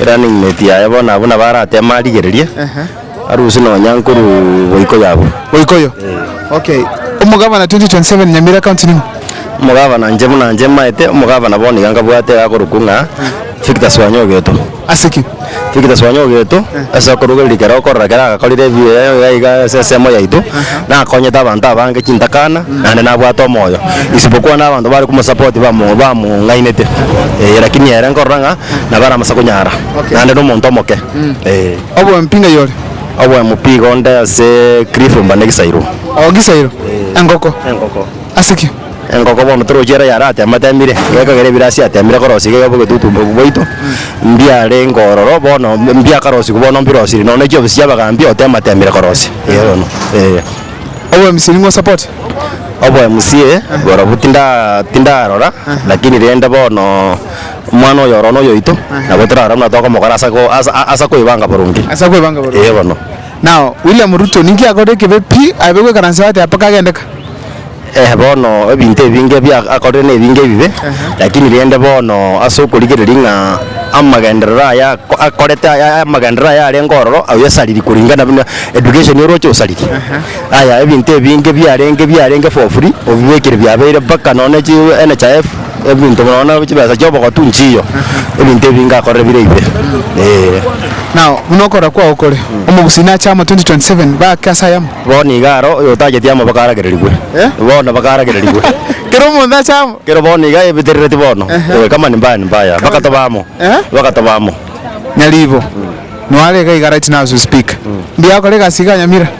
Erunning mate yaye bono abwo nabo arateme arigererie aruse nonya nkoru boiko yabo. Boiko yo? Ee. Okay. Omogabana 2027 Nyamira County ning'o? Omogabana inche buna inche maete omogabana bono iga nkabwate iga akorokwa ng'a Victor Swanya Ogeto. Ase ki? Victor Swanya Ogeto ase okorugereria kera okorora kera agakorire ebiya iga iga ase ensemo yaito nakonyete abanto abange chintakana naende nabwate omoyo isibokwa abanto bare komosupport bamo bamong'ainete ee lakini ere nkorora ng'a nabo aramase konyara Okay. naende nomonto omoke eh. Oboemi pi ng'ai ore? Oboemo pi iga onde ase Cliff mba negisairo. Oo gisairo? Engoko? Engoko. Ase ki? Engoko bono torochie ere yare atema atemire iga ekagera ebire ase atemire korosia iga egebugetutu mbobu bwaito mbiarenge ororo bono mbi- mbiakarosigwa bono mbirosirie nonya chiofisi chia abagaambi otema atemire korosia iga bono eh. Oboemisia ning'o support? Oboemusie borobwo tinda tindarora lakini rende bono. Omwana oyo oro noyoito, nabo torare buna tokomokora ase ko ase a- ase koebanga boronge. Ase kwebanga boronge. Eeh bono. Nao William Ruto ninki akorire ekebe pi abe goikaransa bateba mpaka agende ka? Eeh bono ebinto ebinge ebia akorire na ebinge ebibe, lakini rende bono ase okorigereria ng'a amagenderero aya ako akorete aya aya amagenderero aya arenge ororo aye asariri koringana buna education oroche osariri. Aya ebinto ebinge biarenge biarenge for free obibekire biabeire mpaka nonye chi NHIF. Ebinto buna bono chibesa chi'obogotu nchiyo, ebinto ebi ngakorire bire ebibe, ee. Nao buna okorora kwao kore, omogusi nache amo 2027 baake ase ayamo. Bono nigo aro oyotaacheti amo bakaaragererigwe, bono bakaaragererigwe. Kera omonto ache amo. Kero bono nigo ayebeterereti bono, ee, kama nimbaya nimbaya, bakatoba amo, bakatoba amo. Nyaribo, noare iga iga right now as we speak, mbuya akore egasi iga nyamira.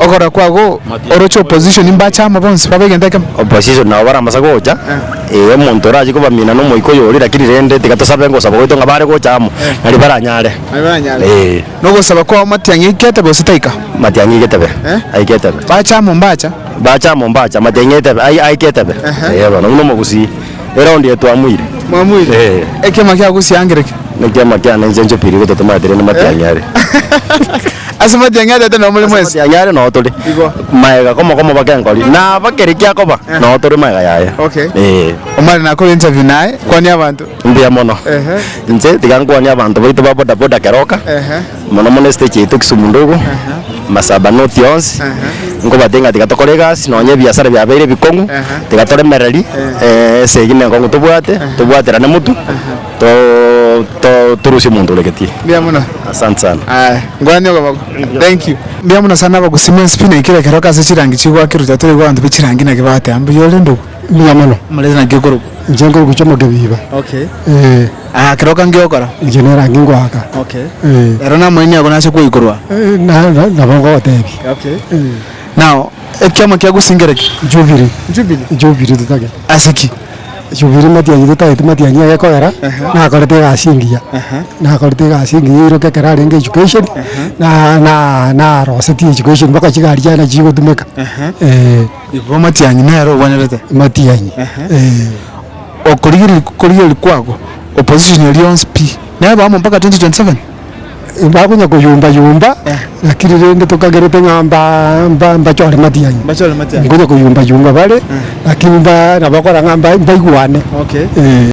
Ogora kwago oroche opposition mbache amo bonsi babe egento ekemo. Opposition nabo baramasa gocha ee omonto orache kobamina nomoika oyo ore lakini rende tiga tosabe gosaba gwaito ng'a bare gocha amo nari baranyare ee. Na ogosaba kwao matiang'i aike etebe gose taika? Matiang'i aike etebe aike etebe. Bache amo mbacha? Bache amo mbacha matiang'i etebe aike etebe ee bono buna omogusii. Ere onde etwamoire. Mwamoire? Ee. Ekiama kia gosiangera eke. Nekiama kiane inche nchopirie igo totomatire ne matiang'iare. Ase matiang'iare ete nomo ore mwensi. Ase matiang'iare noo tore. Igo. Maega komo komo bake nkori. Naba keri kiakoba noo tore maega yaye. Okay. Ee. Omare nakore interview naye, kwania abanto. Mbuya mono. Ehe. Inche tiga nkwanie abanto baito ba bodaboda kero oka. Ehe. mono mono estage yaito Kisumu ndogo Masaba North yonsi nkobwate ng'a tiga tokore egasi nonye ebiasara biabeire ebikong'u tiga toremereri eh, esegi ne enkong'u tobwate tobwaterane motu to- to- torusie omonto ore gati. Mbuya mono. Asante sana. Aya, ngwani okoboko. Thank you. Mbuya mono sana abagusii mwensi pi na ekero ekero ase chirangi chigoakirwe tiga toraigwe abanto be chirangi naki bagotea mbuya ore ndugu. mbuya mono. Omorese naki okorokwa? Inche nkorokwa chi'omoke biba. Okay. Ee. Aya ekero okange ogokora? Inche nerangi ngoaka. Okay. Ee. Ero namoini ago nase koikorwa? Ee, na- na- nabo ngogotebi. Okay. Ee. Now, ekiama kia gusingera ki? Jubilee. Jubilee? Jubilee totagete. Ase ki? Jubilee matianyi totagete matianyi agekogera, nakorete egasi engiya. Nakorete egasi engiya iroka ekero arenge education, na- na- narosetie education mpaka chigari chiane nachigotumeka. Ee. Igo amatianyi nere ogwenerete. Amatianyi eeh. Okorigereria korigereria kwabo opposition eria yonsi pi neba amo mpaka 2027? Bakonya koyomba yomba lakini rende tokagerete ng'a mba mba mbachore matianyi. Mbachore matianyi. Nkonya koyomba yomba bare lakini mba nabakora ng'a mba mbaigwane Okay. eeh.